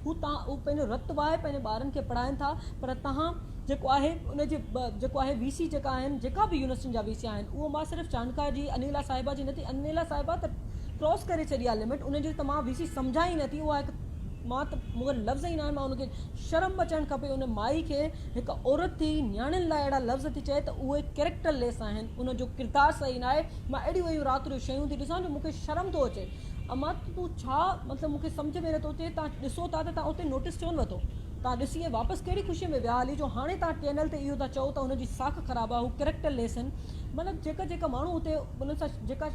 هو تان اهو پنهنجو رت وهائي پنهنجي ٻارن کي پڙهائين ٿا پر تهان جيڪو آهي ان جي جيڪو آهي وي سي جيڪا آهن جيڪا به يونيورسٽين جا وي سي آهن اهو مان صرف چانڊڪا جي انيلا صاحبه جي نٿي انيلا صاحبه ته ڪراس ڪري ڇڏي آهي لمٽ ان جي ته مان وي سي سمجهان ئي نٿي اها هڪ مان ته مون کي لفظ ئي ناهن مان ان کي شرم اچڻ کپي ان مائي کي هڪ عورت ٿي نياڻين لاء اهڙا لفظ ٿي چئي ته اهي ڪريڪٽر ليس آهن ان جو ڪردار صحيح ناهي مان اهڙيون اهڙيون رات جو شيون ٿي ڏسان جو مون کي شرم ٿو اچي امان ته تون ڇا مطلب مون کي سمجهه ۾ نٿو اچي توهان ڏسو ٿا ته توهان اتي نوٽيس ڇو نه وتو توهان ڏسي ۽ واپس ڪهڙي خوشي ۾ ويا هلي جو هاڻي توهان ڪينل تي اهو ٿا چئو ته هن جي ساک خراب آهي هو ڪريڪٽر ليس آهن مطلب جيڪا جيڪا ماڻهو اتي انهن سان جيڪا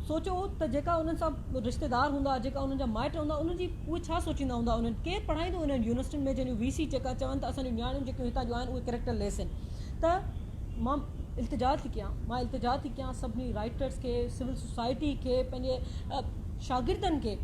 سوچو ته جيڪا انهن سان رشتيدار هوندا جيڪا انهن جا مائٽ هوندا انهن جي اهي ڇا سوچيندا هوندا انهن ڪير پڙهائيندو انهن يونيورسٽين ۾ جن جون وي سي جيڪا چون ته اسان جون نياڻيون جيڪيون هتان جون آهن اهي ڪريڪٽر ليس آهن ته مان التجا ٿي ڪيان مان التجا ٿي ڪيان سڀني رائٽرس کي سول سوسائٽي کي پنهنجي شاگردن کي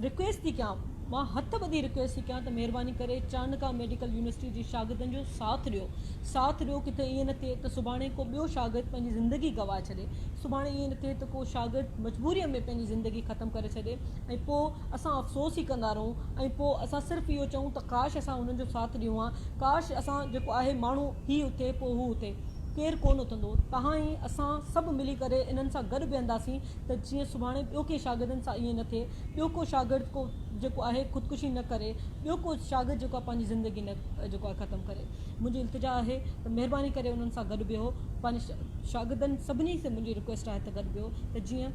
رڪويسٽ ٿي ڪيان مان هٿ ٻڌي رڪويسٽ ٿي ڪيان ته مهرباني ڪري چانڪا ميڊيڪل يونيورسٽي جي شاگردن جو ساٿ ڏيو ساٿ ڏيو ڪٿي ائين نه ٿئي ته سڀاڻي ڪو ٻيو شاگرد پنهنجي زندگي گواهه ڇڏي سڀاڻي ائين نه ٿئي ته ڪو شاگرد مجبوري ۾ پنهنجي زندگي ختم ڪري ڇڏي ۽ پوء اسان افسوس ئي ڪندا رهون ۽ پوء اسان صرف اهو چئون ته ڪاش اسان انهن جو ساٿ ڏيون ها ڪاش اسان جيڪو آهي ماڻهو هي اٿي، پوء هو اٿي، ڪير ڪونه اٿندو. توهان ۽ اسان سڀ ملي ڪري انهن سان گڏ بيهنداسين ته جيئن سڀاڻي ٻيو ڪنهن شاگردن سان ائين نه ٿئي. ٻيو ڪو شاگرد ڪو جيڪو آهي خودڪشي نه ڪري. ٻيو ڪو شاگرد جيڪو آهي پنهنجي زندگي نه جيڪو آهي ختم ڪري. منهنجي التجا آهي ته مهرباني ڪري انهن سان گڏ بيهو. پنهنجي شاگردن سڀني سان منهنجي رڪويسٽ آهي ته گڏ بيهو ته جيئن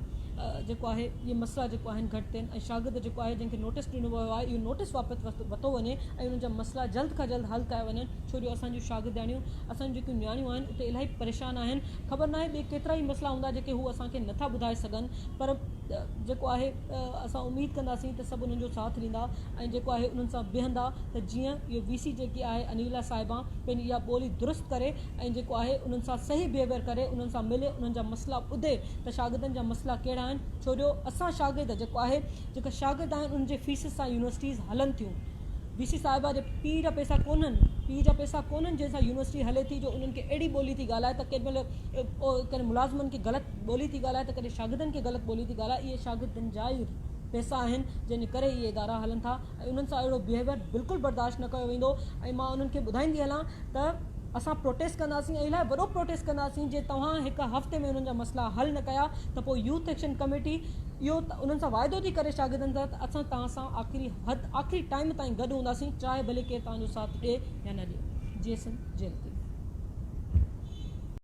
جيڪو آهي اهي مسئلا جيڪو آهن گهٽ ٿين ۽ شاگرد جيڪو آهي جنهن کي نوٽيس ڏنو ويو آهي اهو نوٽيس واپس وتو وڃي ۽ انهن جا مسئلا جلد کان جلد حل ڪيا وڃن. ڇو جو اسان جون شاگردياڻيون، اسان جون جيڪيون نياڻيون آهن، اهي الائي پريشان آهن، خبر ناهي ٻي ڪيترا ئي مسئلا هوندا جيڪي هو اسان کي نٿا ٻڌائي سگهن پر جيڪو آهي اسان اميد ڪنداسين ته سڀ انهن جو ساٿ ڏيندا ۽ جيڪو آهي انهن سان بيهندا ته جيئن اهي وي سي جيڪي آهي انيلا صاحبه پنهنجي اها ٻولي درست ڪري ۽ جيڪو آهي انهن سان صحيح بيهيويئر ڪري انهن سان ملي انهن جا مسئلا ٻڌي ته شاگردن جا مسئلا ڪهڙا آهن ڇو جو اسان شاگرد جيڪو آهي جيڪا شاگرد آهن انهن جي فيسز سان يونيورسٽيز هلن ٿيون وي سي صاحبه جي پيء جا پئسا ڪونهن پيء جا پئسا ڪونهن جنهن سان يونيورسٽي هلي ٿي جو انهن کي اهڙي ٻولي ٿي ڳالهائي ته ڪڏهن مهل ڪڏهن ملازمن کي غلط ٻولي ٿي ڳالهائي ته ڪڏهن شاگردن کي غلط ٻولي ٿي ڳالهائي اهي شاگردن جا ئي پئسا آهن جنهن جي ڪري اهي ادارا هلن ٿا ۽ انهن سان اهڙو بيهيويئر بلڪل برداشت نه ڪيو ويندو ۽ مان انهن کي ٻڌائيندي هلان ته اسان پروٽيسٽ ڪنداسين ۽ الاهي وڏو پروٽيسٽ ڪنداسين جي توهان هڪ هفتي ۾ انهن جا مسئلا حل نه ڪيا ته پوء يوٿ ايڪشن ڪميٽي اهو انهن سان واعدو ٿي ڪري شاگردن سان ته اسان توهان سان آخري حد آخري ٽائيم تائين گڏ هونداسين چاهي ڀلي ڪير توهان جو ساٿ ڏي يا نه ڏي جيسن جيل تي.